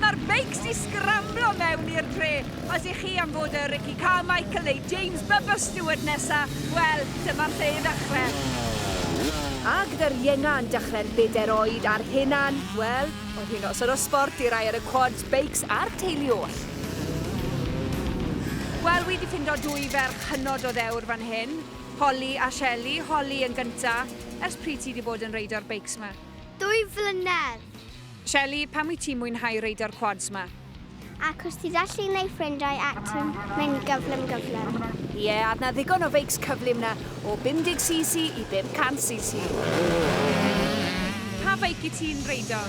Mae'r beics i sgramblo mewn i'r dre, os i chi am fod y Ricky Carmichael neu James Bubba Stewart nesa, wel, dyma lle i ddechre. A gyda'r ienga yn dechrau'r bedair oed a'r henan, wel, oedd hi'n noson o sbort i rai ar y quads, beics a'r teulu oll. Wel, wi 'di ffindo dwy ferch hynod o ddewr fan hyn, Holly a Shelley, Holly yn gynta, ers pryd ti 'di bod yn reido'r beics 'ma? Dwy flynedd. Shelley, pam wyt ti'n mwynhau reidio'r quads ma? Achos ti gallu neu ffrindiau ac ti'n mynd gyflym gyflym. Ie, yeah, adna ddigon o feics cyflym na, o 50cc i 500cc. Pa feic i ti'n reidio?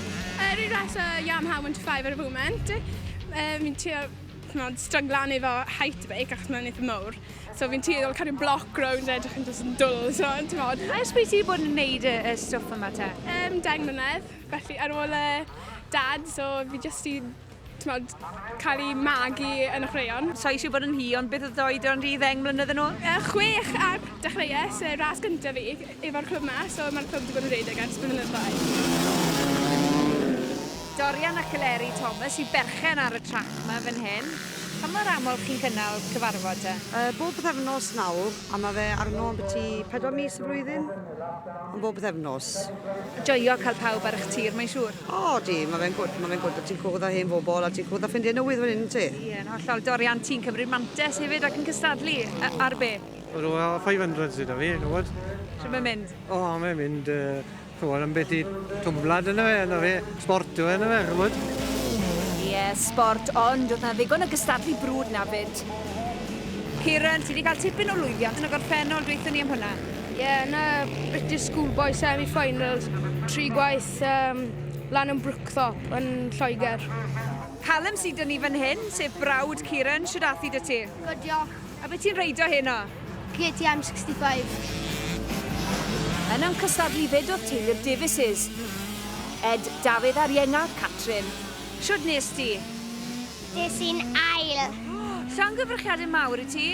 Yr un ras o Yamaha 125 ar y foment. Um, fi'n trio chmod, stryglan efo height y beic achos mae'n eitha mowr. So fi'n tueddol cario bloc rownd edrych yn just yn dwl, so ti'n modd. A ysbryd ti bod yn neud y, y stwff yma te? Um, deng mlynedd. Felly ar ôl y dad, so fi jyst 'di t'mod cael i magu yn y chwaraeon. Sa i eisiau bod yn hi, ond beth oedd dy oedran di ddeng mlynedd yn ôl? Yy chwech a dechreues y ras gyntaf fi efo'r clwb 'ma, so ma'r clwb 'di bod yn rhedeg ers blynyddoedd. Dorian ac Eleri Thomas yw berchen ar y trac 'ma fan hyn. Pa mor aml chi'n cynnal cyfarfod te? Yy bob pythefnos nawr, a ma' fe arno ambyti pedwar mis y flwyddyn. Yn bob pythefnos. Joio cael pawb ar eich tir, mae'n siŵr. O, di, mae fe'n gwrdd, mae fe'n gwrdd, a ti'n cwrdd â hen fobl, a ti'n cwrdd â ffrindiau newydd fan hyn, yn ti? Ie, yn hollol. Dorian, ti'n cymryd mantes hefyd ac yn cystadlu, ar be? Wel, 500 sydd 'da fi, gwybod. Shwt mae'n mynd? O, mae'n mynd, chymod, am beth i twmblad yna fe, yna fe, sport yw e, yna fe, chymod. Ie, sport, ond oedd 'na ddigon o gystadlu brwd 'na 'fyd. Kieran, ti 'di cael tipyn o lwyddiant yn y gorffennol, dweutho ni am hwnna. Ie, yn y British Schoolboy Semi-Finals, tri gwaith um, lan yn Brookthorpe yn Lloegr. Callum sydd dyn ni fan hyn, sef brawd Kieran, siwr athi dy ti? Good, diolch. A beth ti'n reidio hyn o? KTM 65. Yn yn cystadlu fyd oedd teulu'r Davises. Ed, Dafydd a'r Ienga, Catrin. Siwr nes ti? Des i'n ail. Llangyfrchiadau mawr i ti.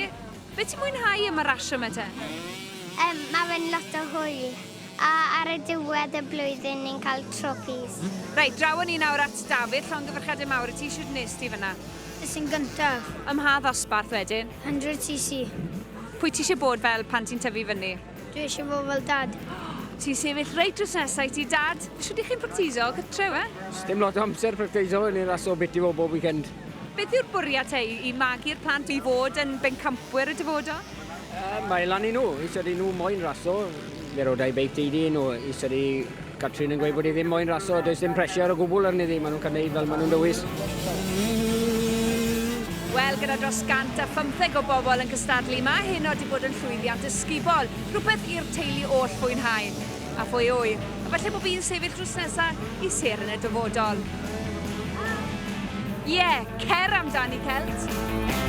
Be ti'n mwynhau am y rasio 'ma te? Yym, ma' fe'n lot o hwyl. A ar y diwedd y blwyddyn ni'n cael trôpis. Reit, draw â ni nawr at Dafydd, llongyfarchiadau mawr i ti, shwd wnest ti fan'na? Es i'n gyntaf. Ym mha ddosbarth wedyn? 100cc. Pwy ti isie bod fel pan ti'n tyfu fyny? Dwi eisiau fod fel dad. Ti'n sefyll reit drws nesa i ti dad. Shwt ych chi'n practiso gytre we? Sdim lot o amser practiso yn i'r aso bit i fod bob weekend. Beth yw'r bwriad te i magu'r plant i fod yn bencampwyr y dyfodol? Yy mae lan i nhw. Is ydy nhw moyn raso. Fe rodai beic ti iddyn nhw. Is ydy Catrin yn gweud bod hi ddim moyn raso, does dim pressure o gwbl arni ddi, maen nhw'n cael neud fel maen nhw'n dewis. Wel, gyda dros 150 o bobl yn cystadlu, mae heno di bod yn llwyddiant ysgubol, rhywbeth i'r teulu oll fwynhau. A phwy a ŵyr, efallai bod fi'n sefyll drws nesa i sêr yn y dyfodol. Ie, yeah, cer amdani, Celt!